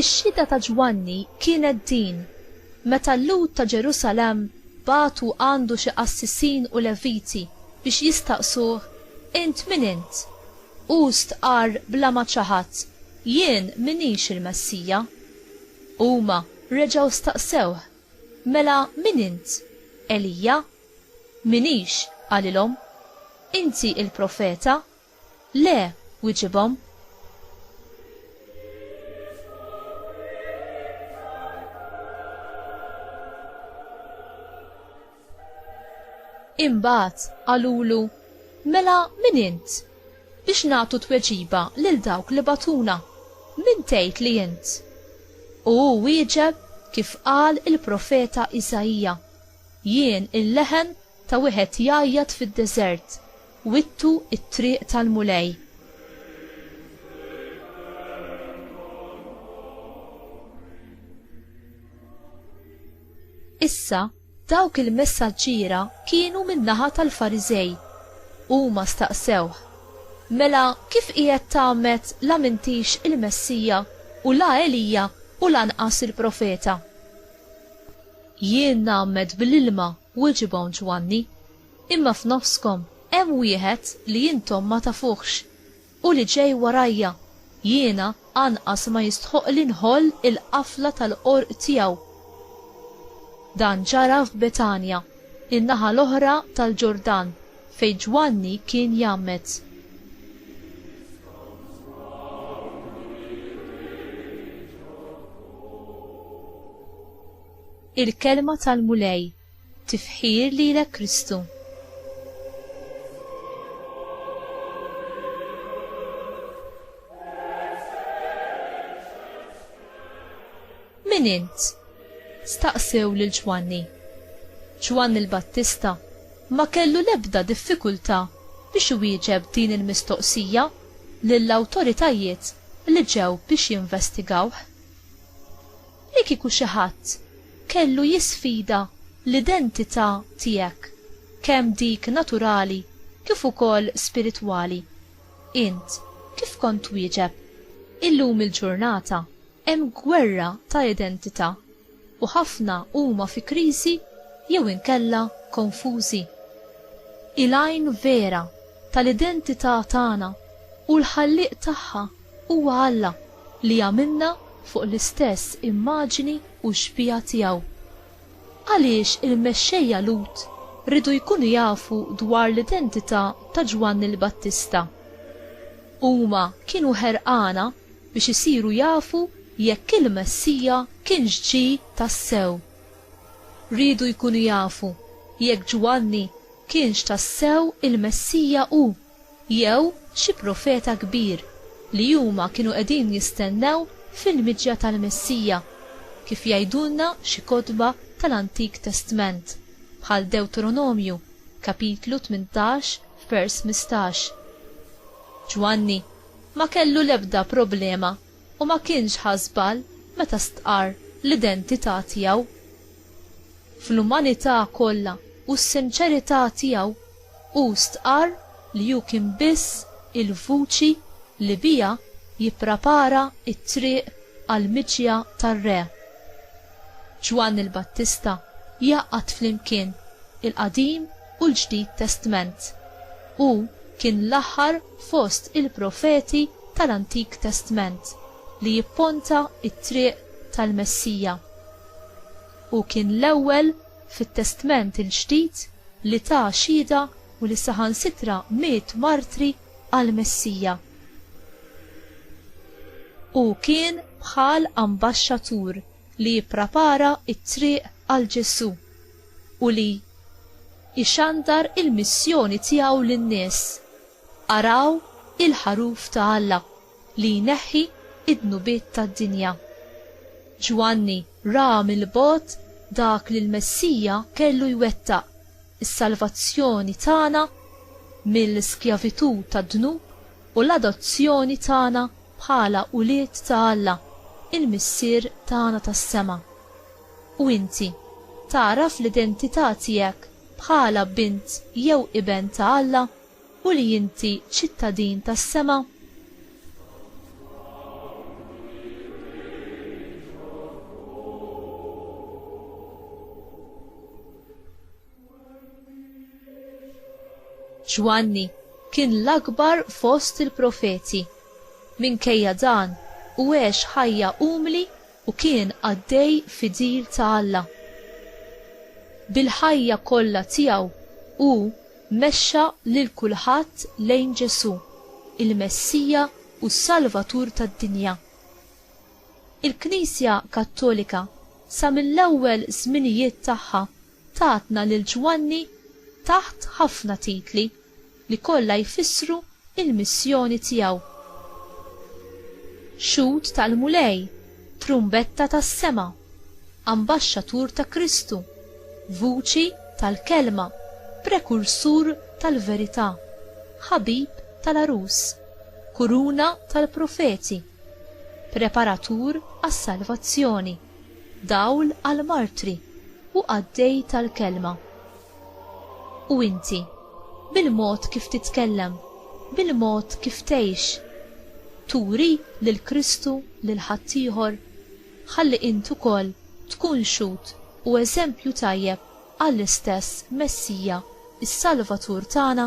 Ix-xhieda ta' Ġwanni kienet din, Meta l-Lhud ta' Ġerusalemm bagħtu għandu xi qassisin u Leviti biex jistaqsuh, Int min int? Hu stqarr bla ma ċaħad, Jien m'inix il-Messija. Huma reġgħu staqsewh, Mela min int? Elija? M'iniex, qalilhom. Inti il-profeta? Le, wiġibhom. Imbagħad qalulu, Mela min int? Biex nagħtu tweġiba lil dawk li bagħtuna, min tgħid li int? U hu wieġeb kif qal il-profeta Isaija, Jien il-leħen ta' wieħed jgħajjat fid-deżert, wittu t-triq tal-Mulej. Issa, Dawk il-messaġġiera kienu min-naħa tal-Fariżej. Huma staqsewh, Mela kif qiegħed tgħammed la m'intix il-Messija u la Elija u lanqas il-Profeta? Jien ngħammed bl-ilma, weġibhom Ġwanni, imma f'nofskom hemm wieħed li intom ma tafuhx. U li ġej warajja, jiena anqas ma jistħoqqli nħoll il-qafla tal-qorq tiegħu. Dan ġara f'Betanja, in-naħa l-oħra tal-Ġordan, fejn Ġwanni kien jgħammed. Il-Kelma tal-Mulej. Tifħir lilek Kristu. Min int? Staqsew lil Ġwanni. Ġwanni l-Battista ma kellu l-ebda diffikultà biex iwieġeb din il-mistoqsija lill-awtoritajiet li ġew biex jinvestigawh. Li kieku xi ħadd kellu jisfida l-identità tiegħek, kemm dik naturali kif ukoll spiritwali, int kif kont twieġeb? Illum il-ġurnata hemm gwerra ta' identità u ħafna huma fi kriżi jew inkella konfużi. Il-għajn vera tal-identità tagħna u l-Ħallieq tagħha huwa Alla. li għamilna fuq l-istess immaġini u xbieha tiegħu. Għaliex il-mexxejja Lhud riedu jkunu jafu dwar l-identità ta' Ġwanni l-Battista? Huma kienu ħerqana biex isiru jafu jekk il-Messija kienx ġie tassew. Riedu jkunu jafu jekk Ġwanni kienx tassew il-Messija hu. Jew xi profeta kbir li huma kienu qegħdin jistennew fil-miġja tal-Messija, kif jgħidulna xi kotba tal-Antik Testment, bħal Dewtronomju, kapitlu tmintax, vers mistax. Ġwanni ma kellu l-ebda problema u ma kienx ħa żball meta stqarr l-identità tiegħu. Fl-umanità kollha u s-sinċerità tiegħu, Hu stqarr li hu kien biss il-vuċi li biha jipprapara t-triq għall-miġja tar-Re. Ġwanni l-Battista jgħaqqad flimkien il-Qadim u l-Ġdid Testment. Hu kien l-aħħar fost il-profeti tal-Antik Testment li jipponta t-triq tal-Messija. Hu kien l-ewwel fit-Testment il-Ġdid li ta xhieda u li saħansitra miet martri għall-Messija. Hu kien bħal ambaxxatur li jipprapara t-triq għal Ġesù u li ixandar il-missjoni tiegħu lin-nies, Araw il-ħaruf ta' Alla. li jneħħi d-dnubiet tad-dinja. Ġwanni ra mill-bogħod dak li l-Messija kellu jwettaq, is-salvazzjoni tagħna mill-skjavitù tad-dnub u l-adozzjoni tagħna bħala ulied ta' Alla, il-Missier tagħna tas-sema. U inti, tagħraf l-identità tiegħek bħala bint jew iben ta' Alla? u li inti ċittadin tas-sema? Ġwanni kien l-akbar fost il-profeti. Minkejja dan, hu għex ħajja umli u kien qaddej fidil ta' Alla. Bil-ħajja kollha tiegħu hu Mexxa lil kulħadd lejn Ġesù, il-Messija u s-Salvatur tad-dinja. Il-Knisja Kattolika sa mill-ewwel żminijiet tagħha tatna lil Ġwanni taħt ħafna titli li kollha jfissru l-missjoni tiegħu. Xhud tal-Mulej. Trumbetta tas-sema, Ambaxxatur ta' Kristu, Vuċi tal-Kelma, Prekursur tal-Verità, Ħabib tal-Għarus, Kuruna tal-Profeti, Preparatur għas-Salvazzjoni, Dawl għall-Martri, u Qaddej tal-Kelma. U inti? Bil-mod kif titkellem, bil-mod kif tgħix, turi lil Kristu lil ħaddieħor? Ħalli int ukoll tkun xhud u eżempju tajjeb għall-istess Messija, is-Salvatur tagħna.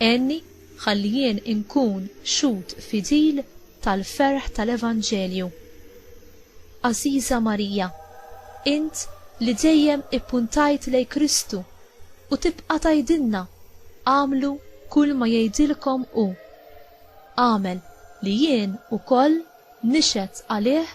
Għenni ħalli jien inkun xhud fidil tal-ferħ tal-Evanġelju. Għażiża Marija, int li dejjem ippuntajt lejn Kristu u tibqa' tgħidilna, agħmlu kulma jgħidilkom hu, agħmel li jien ukoll nixhed għalih